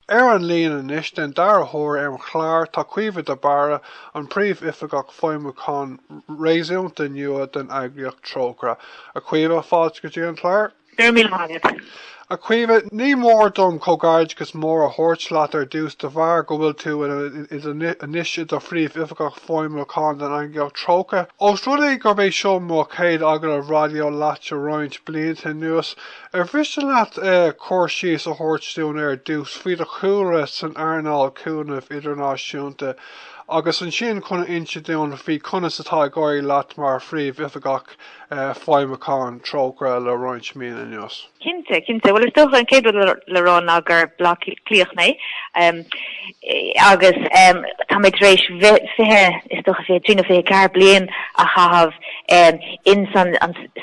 Ar an líon anois, den dara huair ar an chlár, tá Caoimhe de Barra, an Príomh-Oifigeach Feidhmiúcháin réasúnta nua den eagraíocht Trócaire. A Chaoimhe, fáilte go dtí an clár. Go raibh míle maith agat. A Chaoimhe, ní mór dom comhghairdeas mór a thabhairt leat ar dtús de bharr go bhfuil tú anois i do Phríomh-Oifigeach Feidhmiúcháin den eagraíocht Trócaire. Ós rud é gurb é seo mo chéad agallamh raidió leat le roinnt blianta anuas, Ar mhiste leat cur síos a thabhairt dúinn ar dtús faoi do chúlra san earnáil cúnaimh idirnáisiúnta agus ansin chun a insint dúinn faoi conas atá ag éirí leat mar Phríomhoifigeach Feidhmiúcháin Trócaire le roinnt míonna anuas? Cinnte, cinnte. Bhuel, is dócha an chéad rud le rá ná gur Bleá Cliathach mé agus tá mé tar éis fiche is dócha fiche trí nó fiche ceathair bliain a chaitheamh in san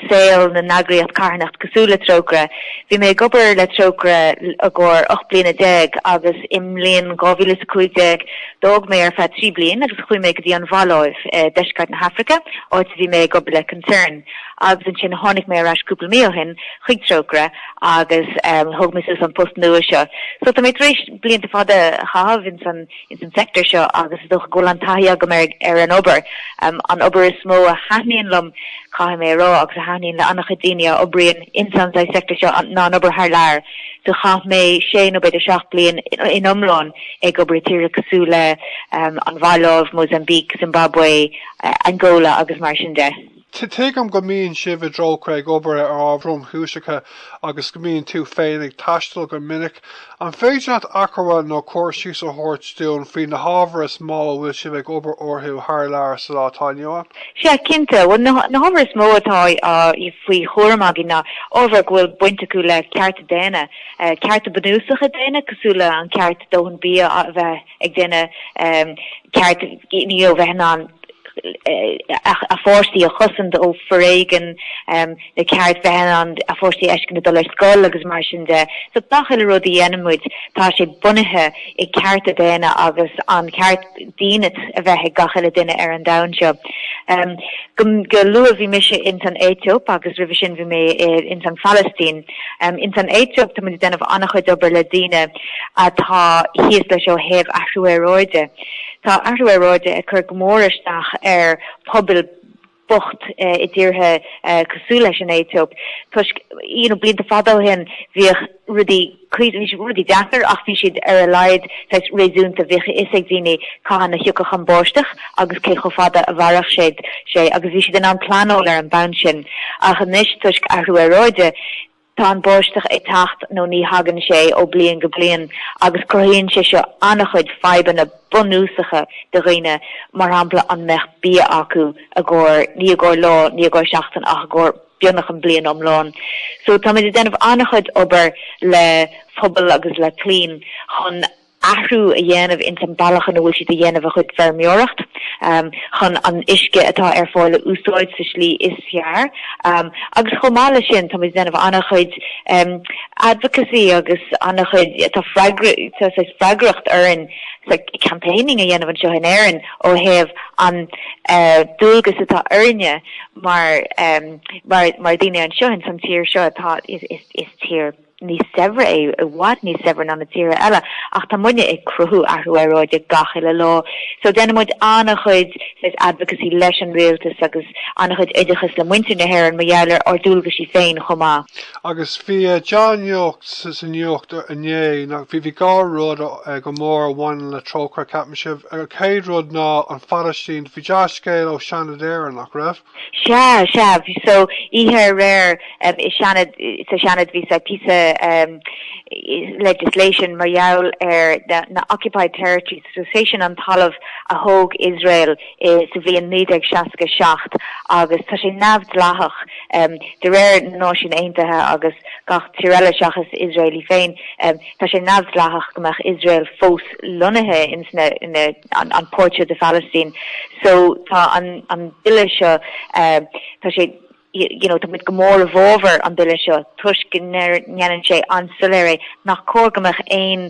saol na n-eagraíocht carthanachta cosúil le Trócaire. Bhí mé ag obair le Trócaire i gcomhair 18 bliana agus i mbliain 2015 d'fhág mé ar feadh 3 bliain agus chuaigh mé go dtí an Mhaláiv i deisceart na hAfraice, áit a bhí mé ag obair le Concern agus ansin tháinig mé ar ais cúpla mí ó shin chuig Trócaire agus thóg mé suas an post nua seo. So tá mé tar éis blianta fada a chaitheamh ins an ins an sector seo agus is dócha go bhfuil an taithí agam ar ar an obair. An obair is mó a thaitníonn liom caithfidh mé a rá agus a thaitníonn le an-chuid daoine a oibríonn ins an sector seo ná an obair thar lear. So chaith mé sé nó b'fhéidir seacht bliain in iomlán ag obair i tíortha cosúil leis an Mhaláiv, Mozambique, Zimbabwe, Angola agus mar sin de. Tuigim go mbíonn sibh i dTrócaire ag obair ar ábhair thromchúiseacha agus go mbíonn tú féin ag taisteal go minic. An féidir leat achoimre nó cur síos a thabhairt dúinn faoi na hábhair is mó a bhfuil sibh ag obair orthu thar lear sa lá atá inniu ann? Sea, cinnte. Bhuel, na hábhair is mó atá faoi chúram againn ná ábhair go bhfuil baint acu le cearta daonna, cearta bunúsacha daonna cosúil le an ceart dóthain bia a bheith ag duine, ceart mná a bheith in ann, a pháistí a chosaint ó foréigean, nó ceart bheith in ann a pháistí a fheiscint ag dul ar scoil agus mar sin de. So gach uile rud a dhéanann muid, tá sé bunaithe i cearta daonna agus an ceart dínit a bheith ag gach uile duine ar an domhan seo. Go luath bhí mise ins an Aetóip agus roimhe sin bhí mé ins an Phalaistín. Ins an Aetóip tá muid ag déanamh an-chuid obair le daoine atá thíos leis ó thaobh athrú aeráide Tá athrú aeráide ag cur go mór isteach ar pobail bocht i dtíortha cosúil leis an Aetóip toisc, you know, blianta fada ó shin bhíodh rudaí, bhí rudaí deacair ach bhí siad ar a laghad saghas réasúnta, bhíodh a fhios ag daoine cathain a thiocfadh an bháisteach agus cé chomh fada a mhairfeadh sé agus bhí siad in ann pleanáil ar an mbonn sin ach anois toisc athrú aeráide, Tá an bháisteach ag teacht nó ní thagann sé ó bliain go bliain agus cruthaíonn sé seo an-chuid fadhbanna bunúsacha do dhaoine, mar shampla, an mbeadh bia acu i gcomhair, ní i gcomhair lá, ní i gcomhair seachtain ach i gcomhair beagnach an bliain iomlán. So táimid ag déanamh an-chuid obair le pobal agus le clainn chun athrú a dhéanamh ins an bealach ina bhfuil siad ag déanamh a gcuid feirmeoireacht chun an uisce atá ar fáil a úsáid sa slí is fearr agus chomh maith leis sin táimid ag déanamh an-chuid advocacy agus an-chuid tá freagracht orainn sa campaigning a dhéanamh anseo in Éirinn ó thaobh an dualgas atá orainne mar mar daoine anseo in san tír seo atá is tír níos saibhre é, i bhfad níos saibhre ná na tíortha eile, ach tá muidne ag cruthú athrú aeráide gach uile lá. So déanann muid an-chuid saghas advocacy leis an rialtas agus an-chuid oideachas le muintir na hÉireann mar gheall ar ár ndualgaisí féin chomh maith. Agus bhí dea-nuacht sa nuacht inné, bhí bhí dhá rud go mór a bhaineann le Trócaire, ceapaimse. An chéad rud ná an Phalaistín. Bhí dea-scéal ó Seanad Éireann, nach raibh? Sea, sea, so, oíche aréir, i Seanad, sa Seanad bhí saghas píosa legislation mar gheall ar na occupied territories, so sé sin an talamh a thóg Iosrael sa bhliain 1967 agus tá sé neamhdhleathach de réir na Náisiún Aontaithe agus gach tír eile seachas Iosrael í féin, tá sé neamhdhleathach go mbeadh Iosrael fós lonnaithe ins na, an páirt de Phalaistín. So tá an an Bille seo eh tá sé you know tá muid go mór i bhfábhar an Bille seo toisc go ndéanann sé an-soiléir é nach cóir go mbeadh aon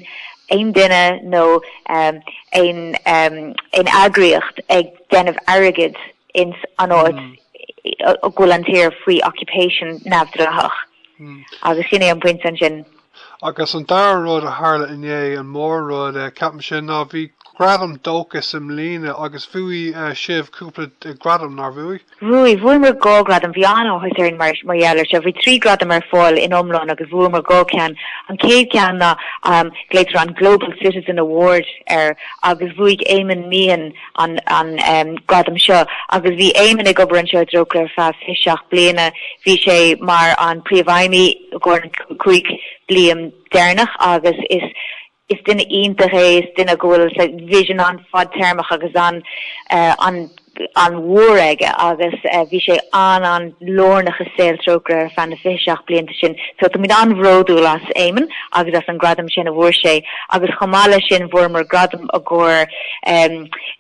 aon duine nó em aon em aon eagraíocht ag déanamh airgid ins an áit go bhfuil an tír faoi occupation neamhdhleathach. Agus sin é an pointe ansin. Agus an dara rud a tharla inné, an mór rud, ceapaimse, ná bhí gradam Dóchas i mbliana agus bhuaigh sibh cúpla gradam, nár bhuaigh? Bhuaigh, bhuamar dhá ghradam, bhí an-áthas orainn mar gheall ar seo. Bhí trí ghradam ar fáil san iomlán agus bhuamar dhá cheann. An chéad cheann ná, glaoitear an Global Citizen Award air agus bhuaigh Éamonn Meehan, an gradam seo agus bhí Éamonn ag obair anseo i dTrócaire ar feadh fiche seacht bliana. Bhí sé mar an príomhfheidhmí i gcomhair na cúig bliain deireanach agus is is duine iontach é is duine go bhfuil vision an-fhadtéarmach agus an an an-mhór aige agus bhí sé an an-lárnach i saol Trócaire ar feadh na fiche seacht blianta sin. So táimid an-bhródúil as Éamonn agus as an gradam sin a bhfuair sé agus chomh maith leis sin fuaireamar gradam i gcomhair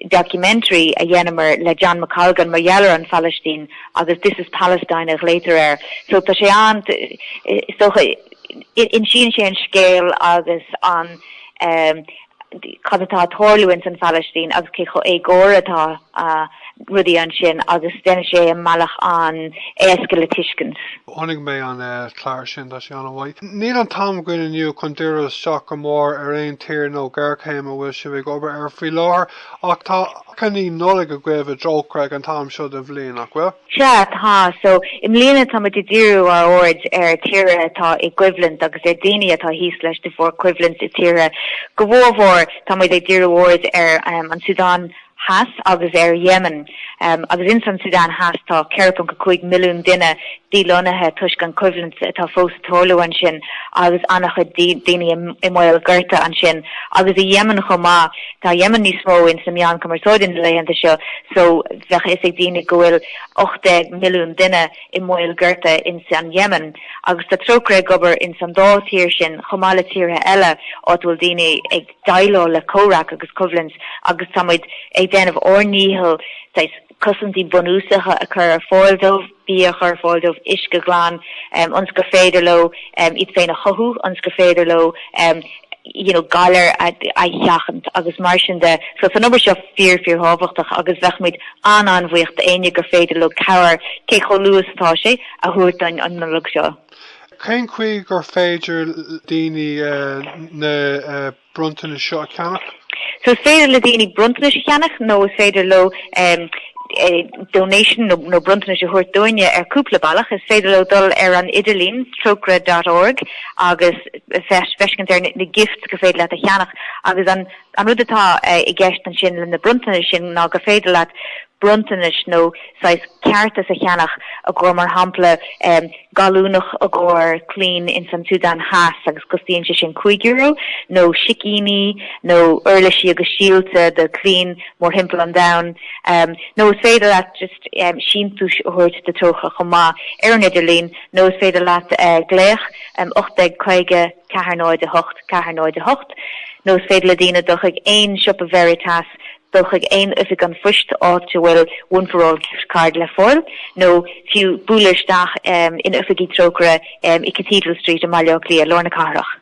documentary a dheineamair le John McColgan mar gheall ar an Phalaistín agus This is Palestine a ghlaotar air. So tá sé an is dócha insíonn sé an scéal agus an um, cad atá ag tarlú in san Phalaistín agus cé chomh éagórach atá rudaí ansin agus deineann sé i mbealach an-éasca le tuiscint. Chonaic mé an clár sin, tá sé an-mhaith. Níl an t-am againn inniu chun díriú isteach go mór ar aon tír nó géarchéim a bhfuil sibh ag obair air faoi láthair ach tá achainí Nollag agaibh i dTrócaire ag an t-am seo den bhliain, nach bhfuil? Sea, tá. So, i mbliana tá muid ag díriú ár aird ar tíortha atá i gcoimhlint agus ar dhaoine atá thíos leis de bharr coimhlint i dtíortha. Go mhórmhór tá muid ag díriú aird ar an tSúdáin Theas agus ar Yemen, agus ins an tSúdáin Theas tá 4.5 milliún duine díláithrithe toisc an choimhlint atá fós ag tarlú ansin agus an-chuid daoine i mbaol gorta ansin. Agus i Yemen chomh maith, tá Yemen níos mó ins na meáin chumarsáide na laethanta seo so bheadh a fhios ag daoine go bhfuil 18 milliún duine i mbaol gorta ins an Yemen. Agus tá Trócaire ag obair ins an dá thír sin chomh maith le tíortha eile áit a bhfuil daoine ag déileáil le comhrac agus coimhlint agus tá muid ag déanamh ár ndícheall saghas cosaintí bunúsacha a chur ar fáil dóibh, bia a chur ar fáil dóibh, uisce glan, ionas gur féidir leo iad féin a chothú, ionas gur féidir leo you know galair a sheachaint agus mar sin de. So tá an obair seo fíor, fíorthábhachtach agus bheadh muid an-an-bhuíoch d'éinne gur féidir leo cabhair, cé chomh luath is atá sé, a thabhairt dúinn an Nollaig seo. Cén chaoi gur féidir le daoine na bronntanais seo a cheannach? So is féidir le daoine bronntanais a cheannach nó is féidir leo donation nó bronntanas a thabhairt dúinne ar cúpla bealach. Is féidir leo dul ar an idirlíon trócaire dot org agus feiscint ar na gifts gur féidir leat a cheannach agus an rud atá i gceist ansin le na bronntanais sin ná gur féidir leat bronntanas nó saghas cártas a cheannach i gcomhair mar shampla gallúnach i gcomhair clainn ins an tSúdáin Theas agus costaíonn sé sin cúig euro, nó sicíní, nó uirlisí agus síolta do chlainn mórthimpeall an domhain. Nó is féidir leat just síntiús a thabhairt do Trócaire chomh maith, ar an idirlíon, nó is féidir leat glaoch 1850 408 408, nó is féidir le daoine dul chuig aon siopa Veritas dul chuig aon oifig an phoist áit a bhfuil One for All Gift Card le fáil nó fiú bualadh isteach in oifigí Trócaire i Cathedral Street i mBaile Átha Cliath, lár na cathrach.